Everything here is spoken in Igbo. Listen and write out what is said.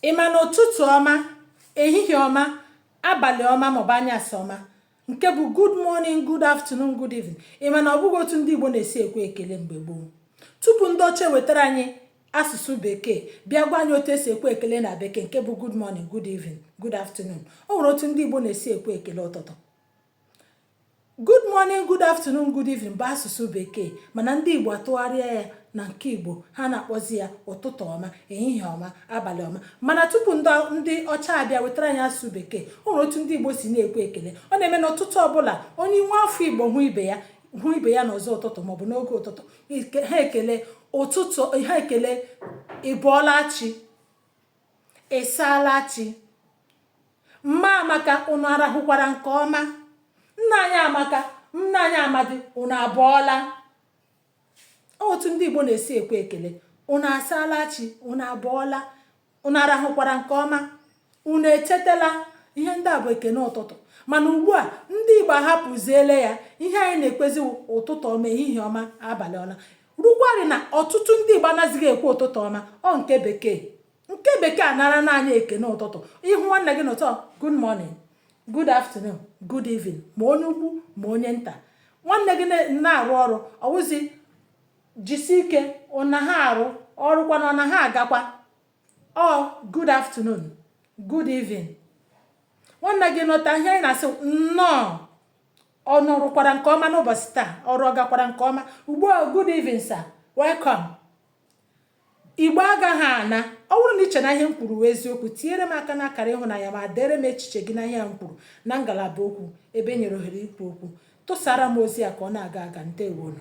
ị ma na ụtụtụ ọma ehihie ọma abalị ọma maọbụ anyasị ọma nke bụ good morning good afternoon good evening ị ma na ọ bụghị otu ndị Igbo na-esi ekwe ekele mgbe gboo tupu ndị ọcha wetara anyị asụsụ bekee bịa gwa anyị otu e si ekwe ekele na bekee nke bụ good morning good evening good afternoon o nwere otu ndị Igbo na-esi ekwe ekele ụtụtụ good morning good afternoon good evening bụ asụsụ bekee mana ndị igbo atụgharịa ya na nke igbo ha na-akpọzi ya ụtụtụ ọma ehihie ọma abalị ọma mana tupu ndị ọcha abịa wetara anyị asụsụ bekee o nwere otu ndị igbo si na-ekwe ekele ọ na-eme n'ụtụtụ ọbụla onye nwa afọ igbo hụ ibe ya hụ ibe ya n'ụzọ ụtụtụ maọbụ n'oge ụtụtụ ha ekele ụtụtụ ha ekele ị bọọla chi Ị saala chi. Mma Amaka, unu arahụkwara nke ọma? Nna anyị Amaka, nna anyị Amadi, unu abọọla? Ọ wụ otu ndị Igbo na-esi ekwe ekele, unu asaala chi, unu abọọla, unu arahụkwara nke ọma, unu echetela ihe ndị a bụ ekene ụtụtụ mana ugbu a ndị Igbo ahapụziele ya ihe anyị na-ekwezi ụtụtụ ọma ehihie ọma abalị ọma rukwarị na ọtụtụ ndị Igbo anazighị ekwe ụtụtụ ọma ọ nke bekee nke bekee anarana anyị ekene ụtụtụ ị hụ nwanne gị n'ụtụtụ good morning good afternoon good evening ma onye ukwu ma onye nta nwanne gị na-arụ ọrụ ọ wụzi jisi ike unu na-arụ ọrụ kwanụ ọ na-agakwa ọ good afternoon good evening nwanne gị nọta ihe anyị na-asị nnọọ Unu rụkwara nke ọma n'ụbọchị taa, ọrụ ọ gakwara nke ọma. Ugbu a, good evening, sir. Welcome. Igbo agaghị ana. Ọ bụrụ na i che na ihe m kwuru wụ eziokwu, tinyere m aka n'akara ịhụnanya ma deere m echiche gị na ihe m kwuru na ngalaba okwu ebe e nyere ohere ikwu okwu. Tụsara m ozi a ka ọ na-aga aga. Ndewonu.